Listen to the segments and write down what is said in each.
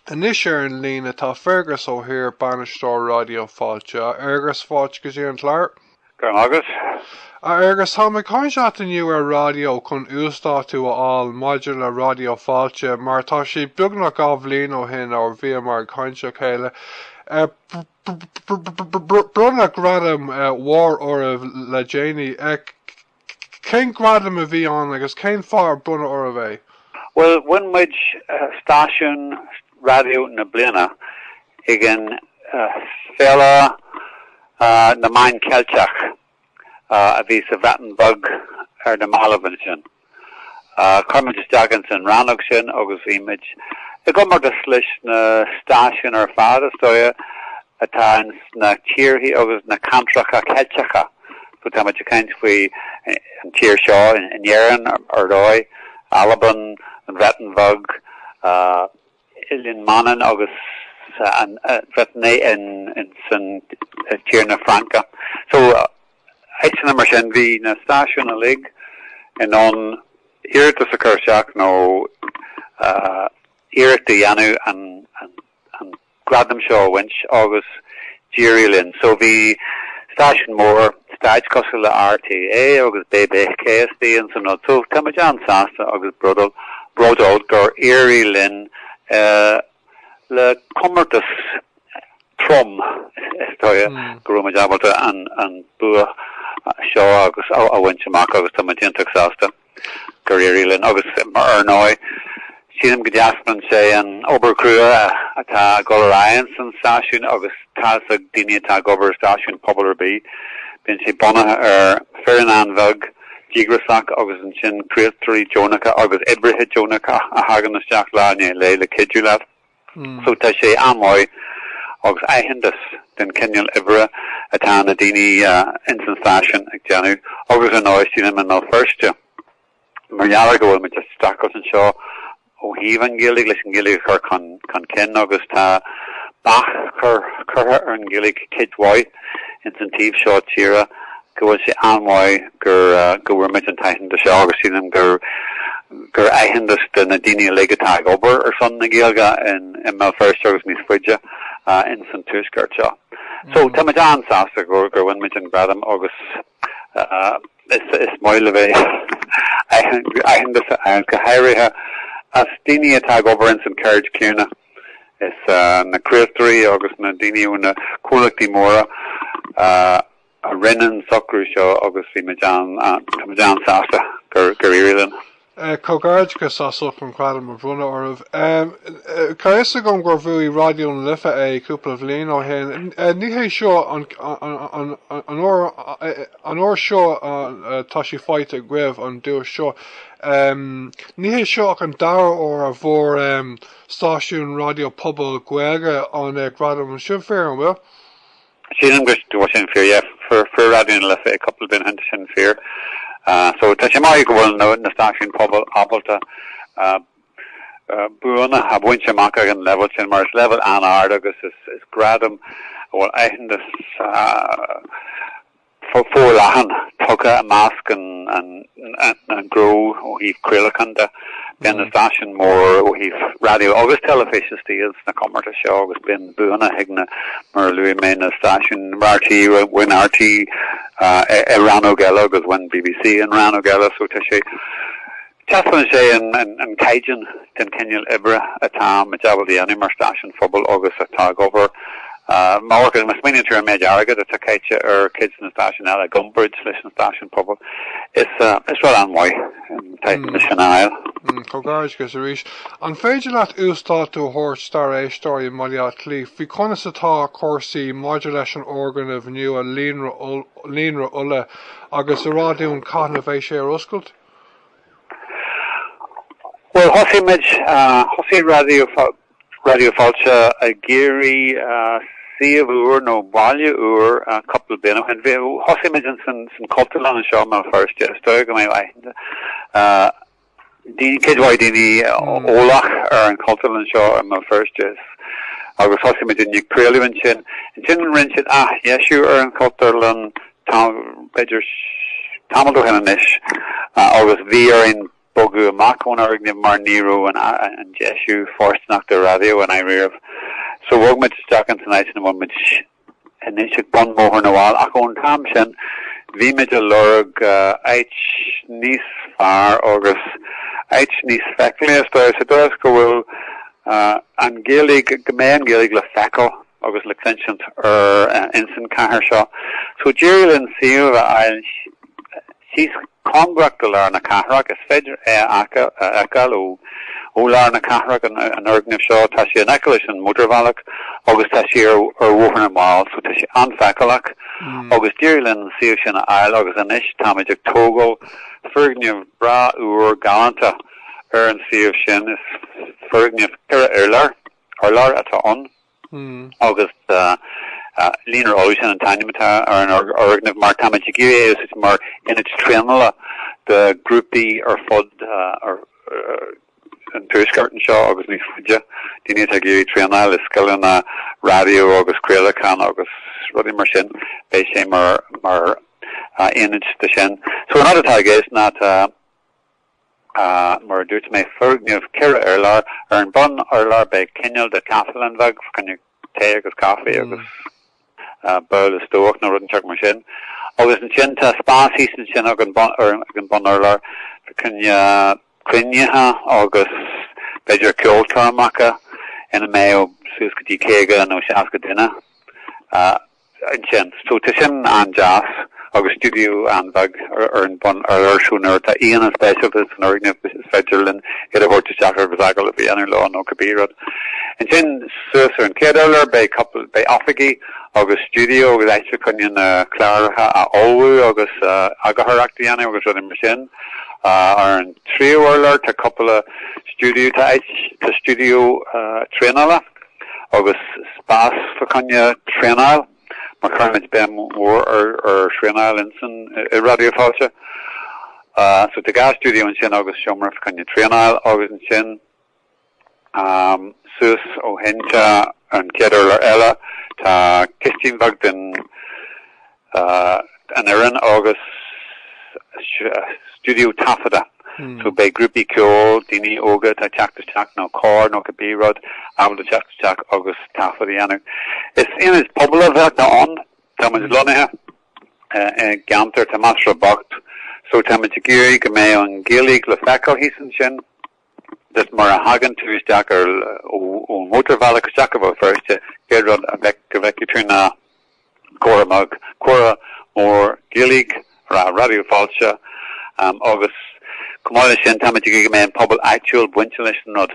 Anois ar an líne tá Fergus Ó hÍr, Bainisteoir Ráidió Fáilte. A Fhergus, fáilte go dtí an clár. Go raibh maith agat. A Fhergus, táim ag caint leatsa inniu ar raidió chun uasdátú a fháil maidir le Ráidió Fáilte mar tá sé beagnach dhá bhliain ó shin ó bhíomar ag caint le chéile. Bronnadh gradam mhór oraibh le déanaí. Cén gradam a bhí ann agus cén fáth ar bronnadh oraibh é? Bhuel, bhain muid stáisiún raidió na bliana ag Féile na Meán Ceilteach a bhí sa Bhreatain Bheag ar na mallaibh ansin. Chuir muid isteach ins an rannóg sin agus bhí muid i gcomórtas leis na stáisiúin ar fad, is dóigh, atá ins na tíorthaí agus na ceantracha Ceilteacha. So táimid ag caint faoi an tír seo in Éirinn, ar ndóigh, Albain, an Bhreatain Bheag, Oileán Mhanann agus an Bhriotáin ins an tír na Fraince. So áiteanna mar sin, bhí na stáisiúin uilig in ann iarratas a chur isteach nó iarracht a dhéanamh an an gradam seo a bhaint agus d'éirigh linn. So bhí stáisiúin mhóra stáit cosúil le RTÉ agus BBC istigh ins an rud. So tá muid an-sásta agus bródúil, bródúil gur éirigh linn le comórtas trom, is dóigh, go raibh muid ábalta an bua seo agus a bhaint amach agus tá muid iontach sásta. gur éirigh linn agus, ar ndóigh, sílim go dtaispeánann sé an obair chrua atá ag dul ar aghaidh ins an stáisiún agus tá's ag daoine atá ag obair i stáisiúin pobail ar bith, bíonn sé bunaithe ar foireann an-bheag, díograiseach agus ansin craoltóirí deonacha agus oibrithe deonacha a thagann isteach lá i ndiaidh lae le cuidiú leat. So tá sé an-mhaith agus aitheantas den chineál oibre atá na daoine ins an stáisiún ag déanamh agus ar ndóigh sílim i mBéal Feirste mar gheall ar go bhfuil muid ag streachailt anseo ó thaobh an Ghaeilge leis an Ghaeilge a chur chun cinn agus tá bac curtha ar an Ghaeilge cuid mhaith. ins an taobh seo tíre go bhfuil sé an-mhaith gur go bhfuair muid an t-aitheantas seo agus sílim gur gur aitheantas do na daoine uilig atá ag obair ar son na Gaeilge in i mBéal Feirste agus níos faide ins an tuaisceart seo. So tá muid an-sásta gur gur bhain muid an gradam agus is is maith le bheith aitheantas a fháil go háirithe as daoine atá ag obair ins an cheird chéanna. Is na craoltóirí agus na daoine ó na comhlachtaí móra a rinne an socrú seo agus bhí muid an-sásta gur éirigh linn. Comhghairdeachas as ucht an gradam a bronnadh oraibh. Tá a fhios agam gur bhuaigh Raidió na Life é cúpla bhliain ó shin. Ní hé seo an uair seo atá sé faighte agaibh an duais seo. Níl sé seo ach an dara huair a bhfuair stáisiún raidió pobail Gaeilge an gradam. An sin fíor, an bhfuil? Sílim go bhfuil sin fíor, yeah. Fuair Fuair Raidió na Life é cúpla bliain ó shin tá sin fíor. So tá sé maith go bhfuil na stáisiún pobail ábalta buanna a bhaint amach ag an level sin mar is level an-ard agus is is gradam bhfuil aitheantas forleathan tugtha i measc an ghnó ó thaobh craolacháin de. Bíonn na stáisiúin mhóra ó thaobh raidió agus teilifíse istigh sna comórtais seo agus bíonn buanna ag na, mar a luaigh mé, na stáisiúin rté, bhain rté i rannóg eile agus bhain bbc i rannóg eile so tá sé, Taispeánann sé, an caighdeán, den chineál oibre atá muid ábalta a dhéanamh mar stáisiún pobail agus atá ag obair. Amharcann, má smaoiníonn tú ar an méid airgid atá caite ar cuid de na stáisiúin eile i gcomparáid leis an stáisiún pobail, is rud an-mhaith an t-aitheantas sin a fháil. Comhghairdeachas arís. An féidir leat uasdátú a thabhairt dár éisteoirí i mBaile Átha Cliath faoi conas atá cúrsaí maidir leis an fhoirgneamh nua Líonra Uladh agus a rá dúinn cathain a bheidh sé ar oscailt? Bhuel, thosaigh muid, thosaigh Raidió, Raidió Fáilte ag iarraidh suíomh úr nó baile úr cúpla bliain ó shin. Bhí, thosaigh muid in san, san Chultúrlann anseo i mBéal Feirste. Is dóigh go mbeidh aithne ag daoine, cuid mhaith daoine eolach ar an Chultúrlann seo i mBéal Feirste agus thosaigh muid ag craoladh ansin. Ansin rinne siad athdheisiú ar an Chultúrlann Tá, b'fhéidir, tamall ó shin anois agus bhí orainn bogadh amach ón fhoirgneamh mar ní raibh an deisiú fóirsteanach do raidió ina dhiaidh. So bhog muid isteach ins an áit ina bhfuil muid anois ag bun Bhóthar na bhFál ach ón t-am sin bhí muid ag lorg áit níos fearr agus áit níos feiceálaí, is dóigh. Sa dóigh is go bhfuil an Ghaeilge, go mbeidh an Ghaeilge le feiceáil agus le cluinsint ar insan chathair seo so d'éirigh linn suíomh a fháil síos cóngarach do lár na cathrach, is féidir é a fheiceáil ó lár na cathrach an fhoirgneamh seo, tá sé in aice leis an mótarbhealach agus tá sé ar Bhóthar na bhFál so tá sé an-fheiceálach agus d'éirigh linn an suíomh sin a fháil agus anois táimid ag tógáil foirgneamh breá úr galánta ar an suíomh sin, is foirgneamh ceithre urlár atá ann. agus Líonra Uladh an t-ainm atá ar an fhoirgneamh mar táimid ag iarraidh é a úsáid mar ionad traenála do ghrúpaí ar fud an tuaiscirt anseo agus níos faide, daoine atá ag iarraidh traenáil i scileanna raidió agus craolacháin agus rudaí mar sin, beidh sé mar ionad do sin. So an rud atá i gceist ná Mar a dúirt mé, foirgneamh ceithre urlár. Ar an mbunurlár beidh cineál de chaifelann bheag, fá choinne tae agus caife agus babhla stobhach, nó rud inteacht mar sin. Agus ansin tá spás thíos ansin ag an mbunurlár, fá choinne cruinnithe agus b'fhéidir ceolchoirmeacha ina mbeadh suas go dtí caoga nó seasca duine. ansin. So tá sin an-deas agus stiúideo an-bheag ar an mbunurlár so nuair atá aíonna speisialta san fhoirgneamh is féidir linn iad a thabhairt isteach agus agallamh a dhéanamh leo nó cibé rud. Ansin suas ar an chéad urlár beidh cúpla, beidh oifigí agus stiúideo agus áit fá choinne na cláracha a ullmhú agus eagarthóireacht a dhéanamh agus rudaí mar sin. Ar an tríú urlár tá cúpla stiúideo, tá áit, tá stiúideo traenála, agus spás fá choinne traenáil, mar cuirimid béim mhór ar thraenáil insan i Raidió Fáilte. So tá dhá stiúideo ansin agus seomra fá choinne traenáil, agus ansin suas ó shin tá an chéad urlár eile, tá cistin bheag don an fhoireann agus stiúideo taifeadta, so beidh grúpaí ceoil, daoine óga atá ag teacht isteach nó cór nó cibé rud, ábalta teacht isteach agus taifead a dhéanamh. Is ionad pobail a bheidh ann, tá muid lonnaithe i gceantar atá measartha bocht, so tá muid ag iarraidh go mbeidh an Ghaeilge le feiceáil thíos ansin. Just mar a thagann tú isteach ar an mhótarbhealach isteach go Béal Feirste, céad rud a bhfeicfidh tú ná comhartha mór, comhartha mór Gaeilge, Raidió Fáilte agus chomh maith leis sin táimid ag iarraidh go mbeidh an pobal áitiúil bainte leis an rud.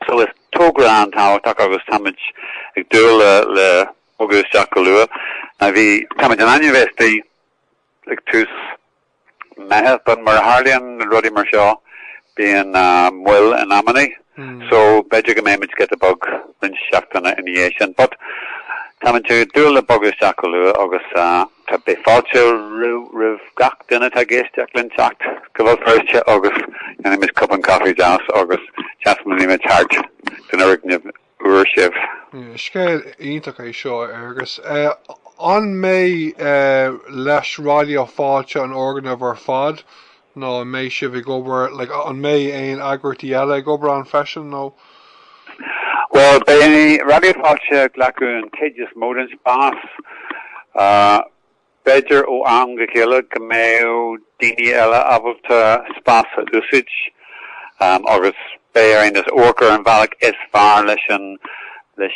So is togra an-tábhachtach agus táimid ag dúil le bogadh isteach go luath. Táimid in ainm a bheith istigh. Ag tús Meitheamh, but mar a tharlaíonn rudaí mar seo, bíonn moill in amannaí, so b'fhéidir go mbeidh muid giota beag roinnt seachtaine ina dhiaidh sin, but táimid ag dúil le bogadh isteach go luath agus beidh fáilte roimh gach duine atá ag éisteacht linn teacht go Béal Feirste agus déanfaidh muid cupán caife deas agus taispeánfaidh muid thart an fhoirgneamh. fuair sibh. Scéal iontach é seo, a Fhergus. An mbeidh le Raidió Fáilte an foirgneamh ar fad nó an mbeidh sibh ag obair, like, an mbeidh aon eagraíochtaí eile ag obair ann freisin nó? Bhuel, beidh Raidió Fáilte ag glacadh an chuid is mó den spás. B'fhéidir ó am go chéile go mbeadh daoine eile ábalta spás a úsáid, agus beidh orainn amharc ar an bhealach is fearr leis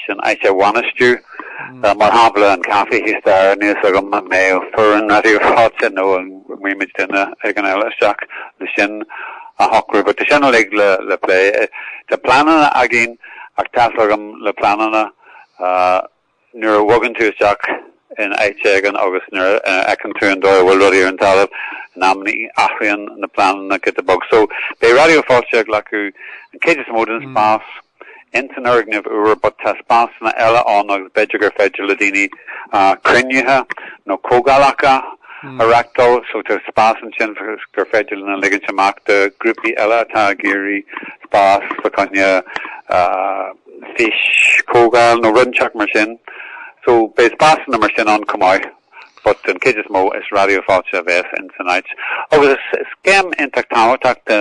an áit a bhainistiú, mar shampla an caife, thíos staighre, níl a fhios agam, an mbeadh foireann Raidió Fáilte nó an mbeireann muid duine éigin eile isteach le sin a shocrú? Ach tá sin uilig le plé. Tá pleananna againn, ach tá's agat le pleananna. Nuair a bhogann tú isteach in áit éigin agus nuair a fheiceann tú an dóigh a bhfuil rudaí ar an talamh, in amannaí athraíonn na pleananna giota beag. So, beidh Raidió Fáilte ag glacadh an chuid is mó den spás ins an fhoirgneamh úr but tá spásanna eile ann agus b'fhéidir gur féidir le daoine cruinnithe nó comhdhálacha a reachtáil. So tá spás ansin gur féidir lena ligint amach do ghrúpaí eile atá ag iarraidh spás fá choinne fís-chomhdháil nó rud inteacht mar sin. So, beidh spásanna mar sin ann chomh maith but den chuid is mó is Raidió Fáilte a bheas in san áit. Agus is céim iontach tábhachtach do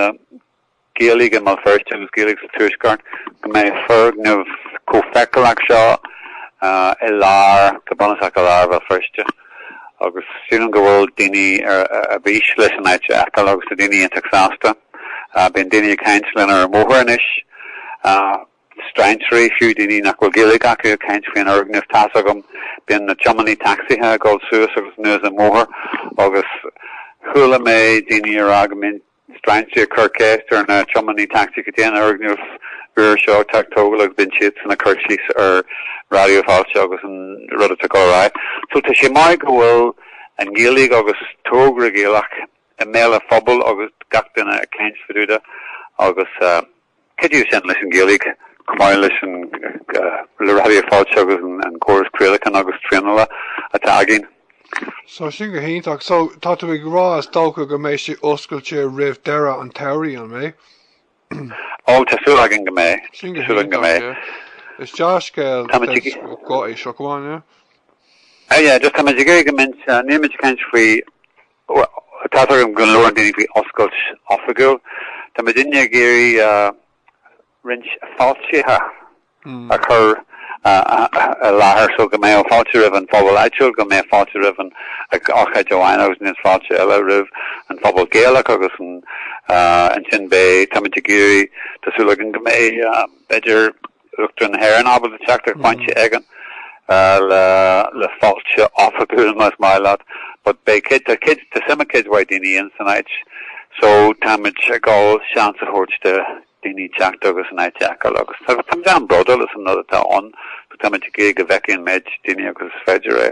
Ghaeilig i mBéal Feirste agus Gaeilig sa Tuaisceart go mbeidh foirgneamh chomh feiceálach seo i lár, go bunúsach i lár Bhéal Feirste. agus sílim go bhfuil daoine ar bís leis an áit a fheiceáil agus tá daoine iontach sásta. Bíonn daoine ag caint linn ar an mbóthar anois, strainséirí fiú, daoine nach bhfuil Gaeilge acu ag caint faoin fhoirgneamh tá's agat, bíonn na tiománaí tacsaithe ag dul suas agus anuas an mbóthar agus chuala mé daoine ag rá go mbíonn Strainséir ag cur ceist ar na tiománaí tacsaí cad é an foirgneamh úr seo atá á thógáil agus bíonn siadsan ag cur síos ar Raidió Fáilte agus an rud atá ag dul ar aghaidh. So tá sé maith go bhfuil an Ghaeilge agus togra Gaelach i mbéal an phobail agus gach duine ag caint fá dtaobh de agus Cé díobh sin leis an Ghaeilge, chomh maith leis an Raidió Fáilte agus an córas craolacháin agus traenála atá againn? So sin go hiontach. So tá tú ag rá is dócha go mbeidh sé oscailte roimh deireadh an tsamhraidh, an mbeidh? Ó, tá súil againn go mbeidh. Sin go hiontach, yeah. Is dea-scéal é seo, go on, yeah. Yeah, just táimid ag iarraidh go mbeidh sé, nílimid ag caint faoi Bhuel, tá's agam go labhrann daoine faoi oscailt oifigiúil. Tá muidinne ag iarraidh roinnt fáiltithe a chur i láthair so go mbeidh fáilte roimh an phobal áitiúil, go mbeidh fáilte roimh an, ag ócáid amháin agus ansin fáilte eile roimh an phobal Gaelach agus ansin beidh, tá muid ag iarraidh, tá súil againn go mbeidh b'fhéidir, Uachtarán na hÉireann ábalta teacht ag pointe éigin le fáilte oifigiúil, más maith leat, but beidh cuid, tá cuid, tá suim ag cuid mhaith daoine insan áit, so táimid ag gabháil seans a thabhairt do dhaoine teacht agus an áit a fheiceáil agus tá, táimid an-bhródúil as an rud atá ann, so táimid ag iarraidh go bhfeicfidh an méid daoine agus is féidir é.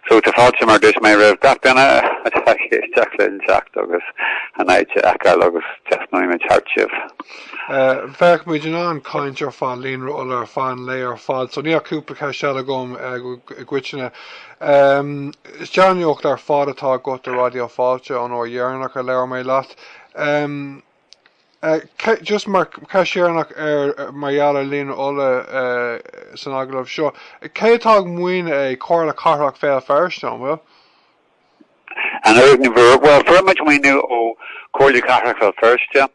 So tá fáilte, mar a dúirt mé roimh gach duine atá ag éisteacht linn teacht agus an áit a fheiceáil agus taispeánfaimid thart sibh. D'fhéadfadh muid caint ar fad, Líonra Uladh ar feadh an lae ar fad, so níl ach cúpla ceist eile agam i gcoitinne. Is dea-nuacht ar fad atá agat do Raidió Fáilte ón uair dheireanach a labhair mé leat. Just mar cheist dheireanach mar gheall ar Líonra Uladh san agallamh seo, cé atá ag maoiniú é, Comhairle Cathrach Bhéal Feirste, an bhfuil? An foirgneamh úr? Bhuel, fuair muid maoiniú ó Chomhairle Cathrach Bhéal Feirste,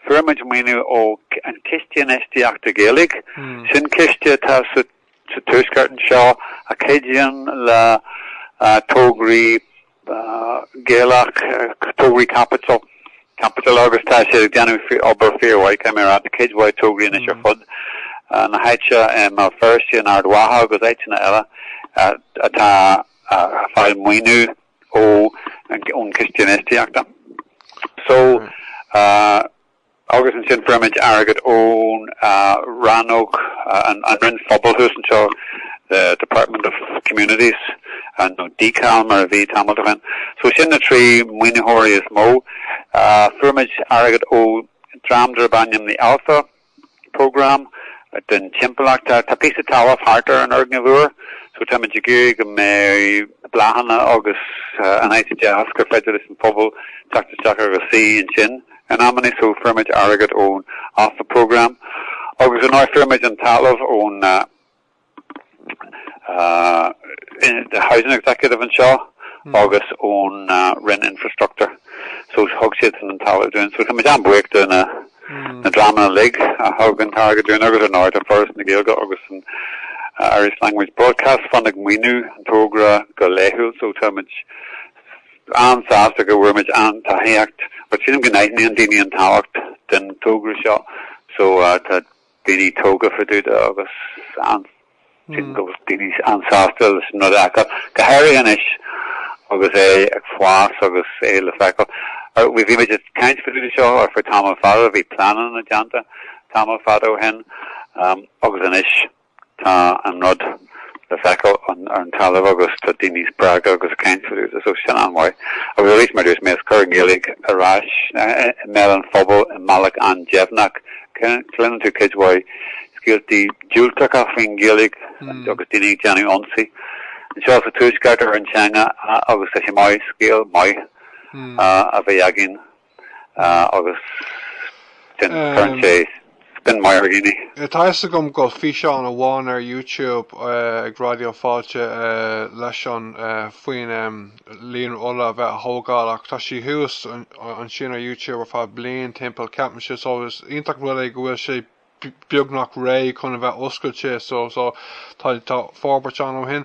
fuair muid maoiniú ó an Ciste Infheistíochta Gaeilge, sin ciste atá sa Tuaisceart anseo a chuidíonn le tograí Gaelach, tograí caipitil, caipitil agus tá siad ag déanamh obair fíormhaith, caithfidh mé a rá, cuid mhaith tograí anois ar fud na háite i mBéal Feirste, in Ard Mhacha agus áiteanna eile atá. ag fáil maoiniú ó ón Chiste Infheistíochta. So agus ansin fuair muid airgead ón rannóg an Roinn Phobail thuas anseo, the Department of Communities and nó DCAL mar a bhí tamall ó shin. So sin na trí maoinitheoirí is mó. Fuair muid airgead ó dream darb ainm the Alpha programme don timpeallacht. Tá píosa talamh thart ar an fhoirgneamh úr so táimid ag iarraidh go mbeidh bláthanna agus an áit deas gur féidir leis an phobal teacht isteach agus suí ansin in amannaí so fuair muid airgead ón Alpha programme agus ar ndóigh fuair muid an talamh ón the housing executive anseo agus ón Roinn Infrastructure. So thug siad san an talamh dúinn. So tá muid an-bhuíoch de na na dreamanna uilig a thug an t-airgead dúinn agus ar ndóigh tá Foras na Gaeilge agus an Irish Language Broadcast Fund ag maoiniú an togra go laethúil. So tá muid an-sásta go bhfuair muid an tacaíocht. But sílim go n-aithníonn daoine an tábhacht den togra seo. So tá daoine tógtha fá dtaobh de agus an, sin, go bhfuil daoine an-sásta leis an rud s'acu, go háirithe anois agus é ag fás agus é le feiceáil. Bhí muid ag caint fá dtaobh de seo ar feadh tamall fada, bhí pleananna déanta tamall fada ó shin agus anois, Tá an rud le feiceáil ar an talamh agus tá daoine spreagtha agus ag caint faoi agus tá sin an-mhaith. Agus arís, mar a dúirt mé, ag cur an Ghaeilge ar ais i mbéal an phobail i mbealach an-deimhneach. Cluineann tú cuid mhaith scéaltaí diúltacha faoin nGaeilge agus daoine ag déanamh ionsaí anseo sa Tuaisceart ar an teanga agus tá sé maith, scéal maith a bheith againn. agus sin cuireann sé spin maith ar dhaoine. Tá a fhios agam go bhfuil físeán amháin ar YouTube ag Raidió Fáilte leis an faoin Líonra Uladh a bheith á thógáil ach tá sí thuas ansin ar YouTube ar feadh bliain timpeall. Ceapaim sin. So is iontach rud é go bhfuil sé beagnach réidh chun a bheith oscailte so tá forbairt ann ó shin.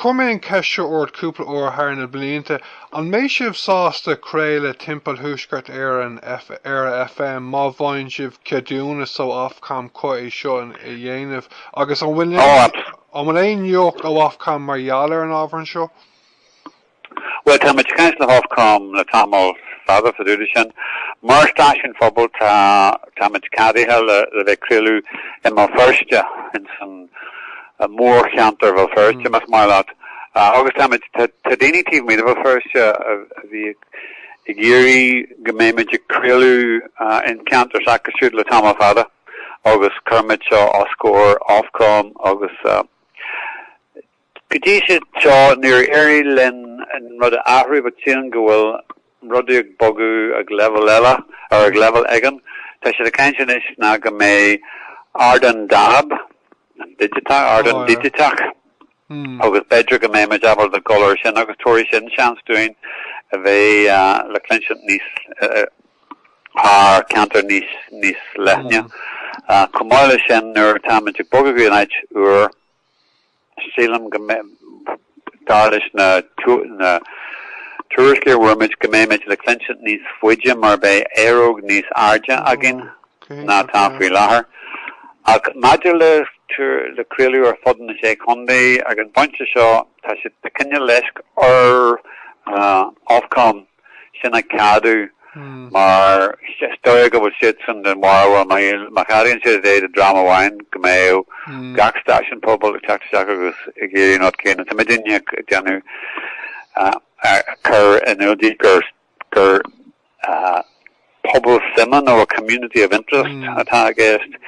Chuir mé an cheist seo ort cúpla uair thar na blianta, an mbeidh sibh sásta craoladh timpeall Thuaisceart Éireann ar, ar FM má fhaigheann sibh ceadúnas ó Ofcom chun é seo a dhéanamh agus an bhfuil aon nuacht ó Ofcom mar gheall ar an ábhar seo? Bhuel, táimid ag caint le hOfcom le tamall fada fá dtaobh de sin. Mar stáisiún phobail, tá, táimid ceadaithe le bheith ag craoladh i mBéal Feirste, ins an mhórcheantar Bhéal Feirste, más maith leat. Agus táimid, tá, tá daoine taobh amuigh de Bhéal Feirste a, a bhí ag, ag iarraidh go mbeimid ag craoladh in ceantar s'acu siúd le tamall fada, agus cuirimid seo os comhair Ofcom agus, Go dtí seo níor éirigh linn an rud a athrú but sílim go bhfuil rudaí ag bogadh ag leibhéal eile, or ag leibhéal éigin. Tá siad ag caint anois go mbeidh ardán dab, an digiteach, ardán digiteach, agus b'fhéidir go mbeidh muid ábalta dul ar sin agus tabharfaidh sin seans dúinn a bheith le cluinsint níos, thar ceantair níos, níos leithne. Chomh maith le sin nuair atá muid ag bogadh go dtí an áit úr, Sílim go mbeidh, dar leis na tuairiscí a fuair muid, go mbeimid le cluinstin níos faide mar beidh aeróg níos airde againn ná atá faoi láthair. Ach maidir le craoladh ar fud na Sé Chontae, ag an bpointe seo tá cineál leisce ar Ofcom. sin a cheadú mar is dóigh go bhfuil siadsan den bharúil, má cheadaíonn siad é do dhream amháin, go mbeadh gach stáisiún pobail ag teacht isteach agus ag iarraidh an rud céanna. Tá muidinne ag déanamh a chur in iúl dóibh gur pobal suime nó a community of interest atá i gceist.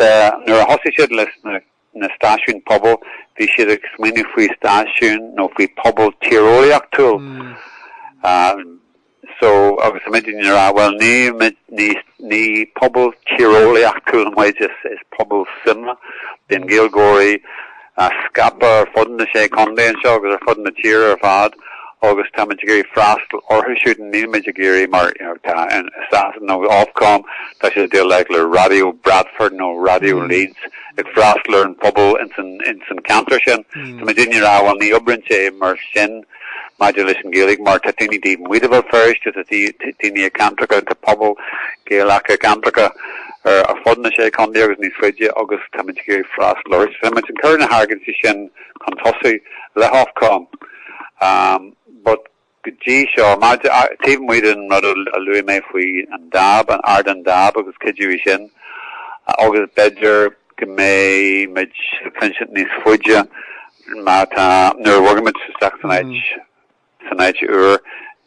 Nuair a thosaigh siad leis na na stáisiúin pobail, bhí siad ag smaoineamh faoi stáisiún nó faoi phobal tíreolaíochtúil. So, agus tá muidinne ag rá, bhuel, nílimid níos, ní pobal tíreolaíochtúil muid, is pobal suime. Bíonn Gaeilgeoirí scaipthe ar fud na sé contae anseo agus ar fud na tíre ar fad agus táimid ag iarraidh freastal orthu siúd, nílimid ag iarraidh, mar, you know, tá i Sasana, nó Ofcom, tá siad ag déileáil le Raidió Bradford nó Raidió Leeds. ag freastal ar an phobal ins an ceantar sin. Tá muidinne ag rá, bhuel, ní oibreann sé mar sin maidir leis an Ghaeilge mar tá daoine taobh amuigh de Bhéal Feirste, tá daoine i gceantracha, tá pobal Gaelach i gceantracha ar fud na sé contae agus níos faide agus tá muid ag iarraidh freastal orthu. Agus tá muid ag cur na hargóintí sin chun tosaigh le hOfcom. But. Go dtí seo, mar, taobh amuigh den rud a luaigh mé faoi an dab, an ardán dab agus cuidiú í sin, agus b'fhéidir go mbeidh muid le cluinstin níos faide má tá, nuair a bhogfaidh muid isteach san áit, san áit úr,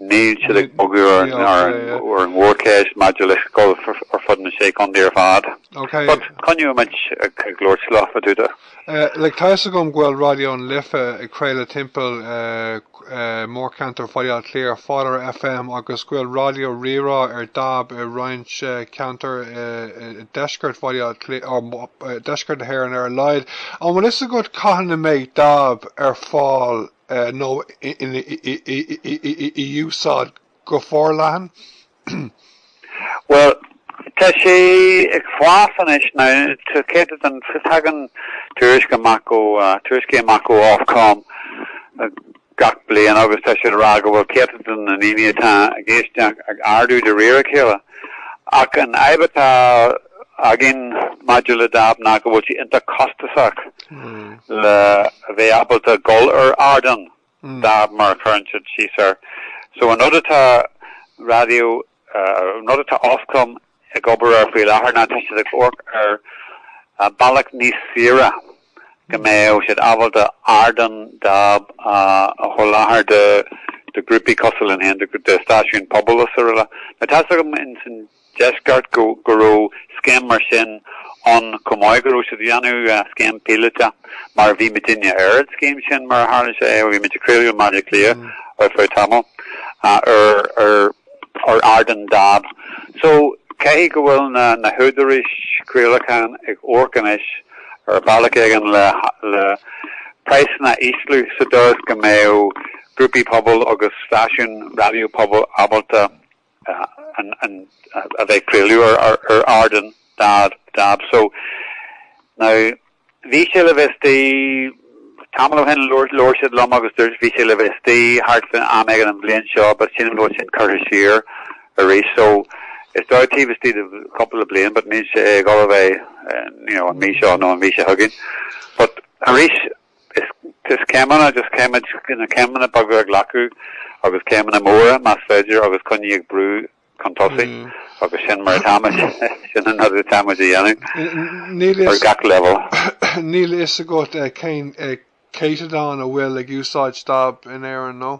níl siad ag bogadh ar an, ar an, ar an mhórcheist maidir le craoladh ar fud na sé contae ar fad. OK. But coinneoidh muid ag labhairt leo, gan dabht. Like, tá 'fhios agam go bhfuil Raidió na Life ag craoladh timpeall, mórcheantar Bhaile Átha Cliath, ar fáil ar FM agus go bhfuil Raidió Rí-Rá ar dab i roinnt ceantar i deisceart Bhaile Átha Cliath, nó deisceart na hÉireann ar a laghad. An bhfuil fhios agat cathain a mbeidh dab ar fáil nó in úsáid go? go forleathan? Bhuel, tá sé ag fás anois now, tá céatadán, tagann tuairisc amach ó, tuairiscí amach ó Ofcom gach bliain agus tá siad ag rá go bhfuil céatadán na ndaoine atá ag éisteacht ag ardú de réir a chéile. Ach an fhadhb atá againn maidir le dab ná go bhfuil sé iontach costasach le bheith ábalta dul ar ardán. Stáit mar a chuireann siad síos air. So an rud atá Raidió, an rud atá Ofcom ag obair air faoi láthair ná tá siad ag amharc ar bealach níos saoire go mbeadh siad ábalta ardán dab a sholáthar do ghrúpaí cosúil linn féin, do stáisiúin pobail is araile. Now tá's agam in san deisceart go raibh scéim mar sin ann chomh maith, go raibh siad ag déanamh scéim píolótach mar bhí muidinne ar an scéim sin mar a tharla sé, bhí muid ag craoladh i mBaile Átha Cliath ar feadh tamall ar ardan dab so caithfidh go bhfuil na húdaráis craolacháin ag amharc anois ar bhealach éigin le praghsanna a ísliú sa dóigh is go mbeadh grúpaí pobail agus stáisiúin raidió pobail ábalta a bheith ag craoladh ar ardán dab. So now bhí sé le bheith istigh tamall ó shin labhair siad liom agus dúirt bhí sé le bheith istigh thart faoin am éigin an bhliain seo but sílim go bhfuil sin curtha siar arís so is dóigh taobh istigh de cúpla le bliain but níl sé ag dul a bheith you know an mhí seo nó an mhí seo chugainn but arís Arís céimeanna, just céim, na céimeanna beaga a ghlacadh, agus céimeanna móra, más féidir, agus coinnigh ag brú chun tosaigh, agus sin mar atá muid, sin an rud atá muid a dhéanamh ar gach leibhéal. Níl a fhios agat cén céatadán a bhfuil ag úsáid dab in Éirinn, nó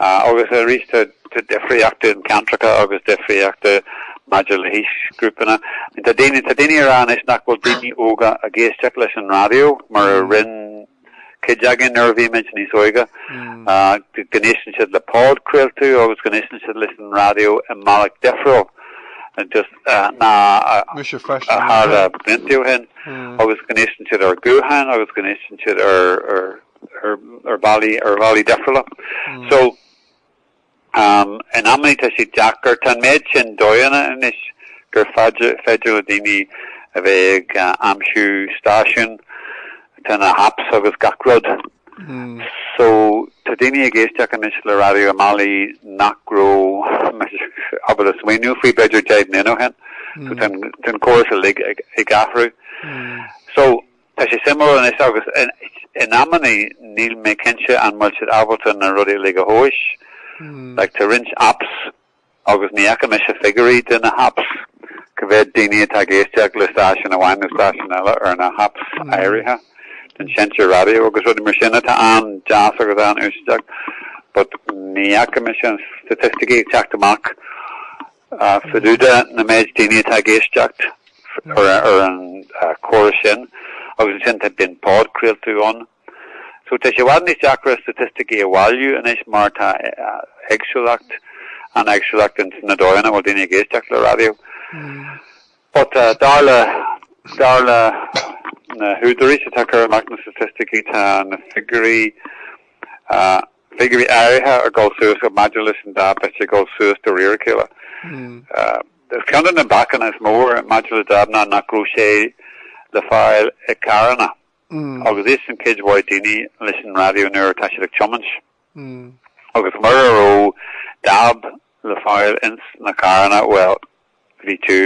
Agus arís, tá difríocht in ceantracha agus difríocht maidir le haoisghrúpanna. Tá daoine, tá daoine a rá anois nach bhfuil daoine óga ag éisteacht leis an raidió mar a rinn cuid againn nuair a bhí muid níos óige. Go n-éisteann siad le podchraoltú agus go n-éisteann siad leis an raidió i mbealach difriúil ná a tharla blianta ó shin. Agus go n-éisteann siad ar ghutháin agus go n-éisteann siad ar ar bhealaí difriúla. So, in amanna tá sé deacair. Tá an méid sin dóigheanna anois gur féidir le daoine a bheith ag aimsiú stáisiún tá na happs agus gach rud. So, tá daoine ag éisteacht anois le Raidió i mbealaí nach raibh ábalta smaoineamh faoi b'fhéidir deich mbliana ó shin. So, tá an córas uilig ag athrú. So, Tá sé suimiúil anois, agus in amannaí níl mé cinnte an bhfuil siad ábalta na rudaí uilig a thomhais. Like, tá roinnt apps agus ní fhaca mise figiúirí de na happs, cá mhéad daoine atá ag éisteacht le stáisiún amháin nó stáisiún eile ar na happs áirithe den seinnte raidió agus rudaí mar sin atá an-deas agus an-úsáideach, but ní fhaca mise na staitisticí ag teacht amach. Ach fá dtaobh den méid daoine atá ag éisteacht ar an chóras sin, agus ansin tá, bíonn podchraoltú ann. So tá sé i bhfad níos deacra staitisticí a bhailiú anois mar tá éagsúlacht, an-éagsúlacht ins na dóigheanna a bhfuil daoine ag éisteacht le raidió. But dar le, dar le na húdaráis atá ag cur amach na staitisticí, tá na figiúirí figiúirí áirithe ag dul suas, maidir leis an DAB, tá siad ag dul suas de réir a chéile. Is, ceann de na bacanna is mó maidir le DAB ná nach raibh sé le fáil i gcarranna agus éisteann cuid mhaith daoine leis an raidió nuair atá siad ag tiomáint. Agus mura raibh DAB le fáil ins na carranna, bhuel, Bhí tú,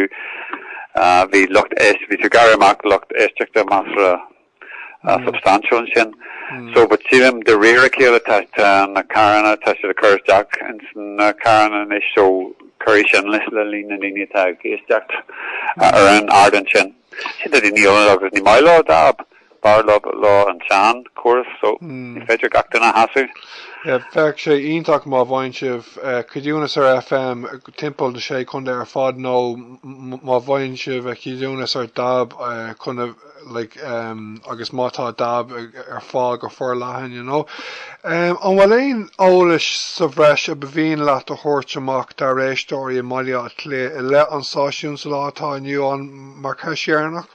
bhí lucht, bhí tú ag gearradh amach lucht éisteachta measartha substaintiúil ansin. So but sílim de réir a chéile tá na carranna, tá siad ag cur isteach ins na carranna anois so cuirfidh sin leis le líon na ndaoine atá ag éisteacht ar an ardán sin. Sin, tá daoine eile agus ní maith leo DAB. B'fhearr leo an seanchóras so ní féidir gach duine a shásamh. Bheadh sé iontach má bhain sibh ceadúnas ar FM timpeall na Sé Chontae ar fad nó má bhain sibh a cheadúnas ar DAB cibé, like agus má tá DAB ar fáil go forleathan you know. An bhfuil aon eolas sa bhreis ba mhian leat a thabhairt amach dár éisteoirí i mBaile Átha Cliath i leith an stáisiúin sa lá atá inniu ann mar cheist dheireanach?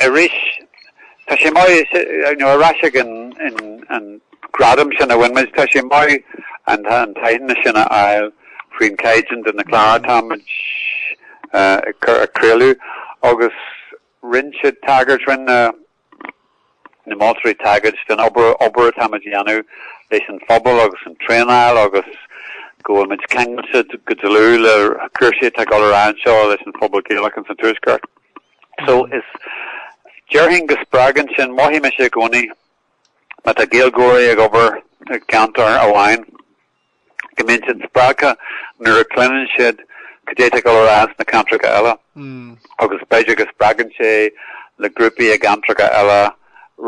arís. Tá sé maith, you know, ar ais chuig an gradam sin a bhain muid, tá sé maith an t-aitheantas sin a fháil faoin gcaighdeán de na cláir atáimid ag craoladh, agus rinne siad tagairt, rinne na. na moltóirí tagairt don obair atáimid a dhéanamh leis an phobal agus an traenáil agus go bhfuilmid ceangailte go dlúth le cúrsaí atá ag dul ar aghaidh anseo leis an phobal Gaelach ins an Tuaisceart. So is, déarfainn go spreagann sin, mothaím i gcónaí, má tá Gaeilgeoirí ag obair i gceantar amháin, go mbíonn siad spreagtha nuair a chluineann siad cad é atá ag dul ar aghaidh sna ceantracha eile agus b'fhéidir go spreagann sé na grúpaí i gceantracha eile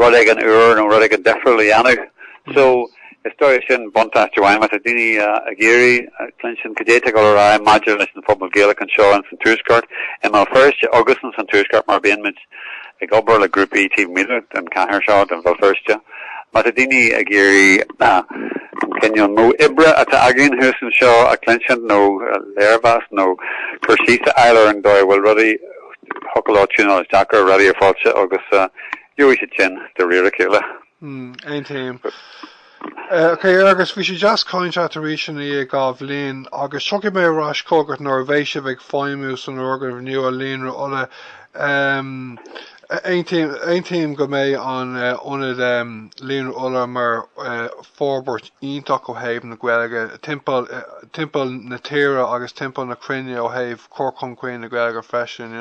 rud éigin úr nó rud éigin difriúil a dhéanamh. So, is dóiche sin buntáiste amháin má tá daoine ag iarraidh cluinstin cad é atá ag dul ar aghaidh maidir leis an phobal Gaelach anseo ins an Tuaisceart i mBéal Feirste agus ins an Tuaisceart mar bíonn muid ag obair le grúpaí taobh amuigh den chathair seo, de Bhéal Feirste, má tá daoine ag iarraidh an cineál modh oibre atá againn thuas anseo a chluinsint nó léirmheas nó cur síos a fháil ar an dóigh a bhfuil rudaí, thig leo tiúnáil isteach ar Raidió Fáilte agus gheobhaidh siad sin de réir a chéile. Aontaím. Agus bhí sé deas caint leat arís i ndiaidh dhá bhliain, agus tiocfaidh mé ar ais chugat nuair a bheidh sibh ag feidhmiú san fhoirgneamh nua Líonra Uladh. Aontaím go mbeidh an ionad Líonra Uladh mar forbairt iontach ó thaobh na Gaeilge timpeall timpeall na tíre agus timpeall na cruinne ó thaobh chur chun cinn na Gaeilge freisin.